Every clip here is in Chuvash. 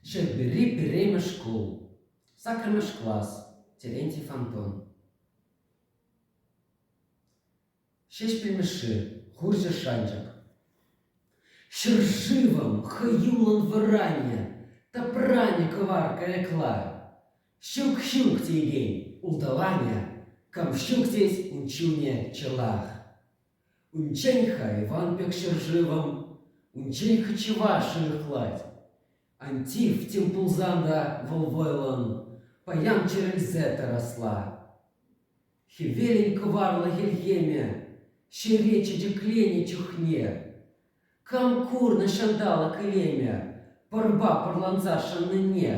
Ҫӗрпӳри пӗрремӗш шкул, саккӑрмӗш класс, Терентий фонтан. Ҫеҫпӗл Мишши, хурҫӑ шанчӑк. Ҫӗршывӑм хӑюллӑн вӑранӗ, тӑпранӗ кӑвар кайӑкла. Ҫук-ҫук теекен улталанӗ, кам ҫук тет ун чунӗ чӑлах. Унччен-ха Иван пек ҫӗршывӑм унччен кочевар шӑнӑхлать. Антив тем пулсан та вӑл вӑйлӑн паян чӗрӗлсе тӑрасла. Хӗвелӗн кӑварлӑ хӗлхемӗ ҫӗре чечекленӗ чухне кам курнӑ ҫанталӑк илемӗ пӑрпа пӑрланса шӑннине?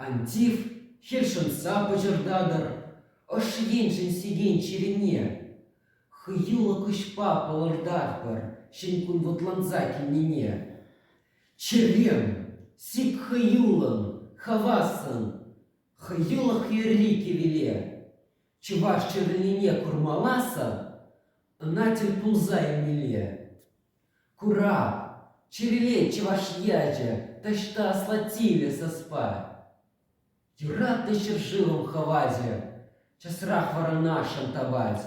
Антив хӗл шӑнса пӑчӑртатӑр ӑш еншӗн сиен чирене. Хӑюллӑ куҫпа палӑртатпӑр ҫӗнкун вӑтланса килнине. Чӗрем, сик хӑюллӑн, хавассӑн, хӑюлӑх йӗрли кивеле. Чӑваш чӗррине курмалласӑр ӑна тӗл пулса илмелле. Курав чӗрелет чӑваш ячӗ таҫта аслатилле саспа. Юратнӑ ҫӗршывӑм хӑвачӗ часрах Вӑрнаршӑн тапать.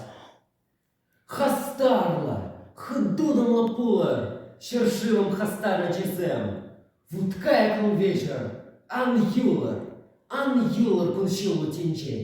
Хастарлӑ, хытутӑмлӑ пулӑр ҫӗршывӑм хастар ачисем. Вуткайӑклӑн вечер ан юлӑр, ан юлӑр кун-ҫулу тӗнчен.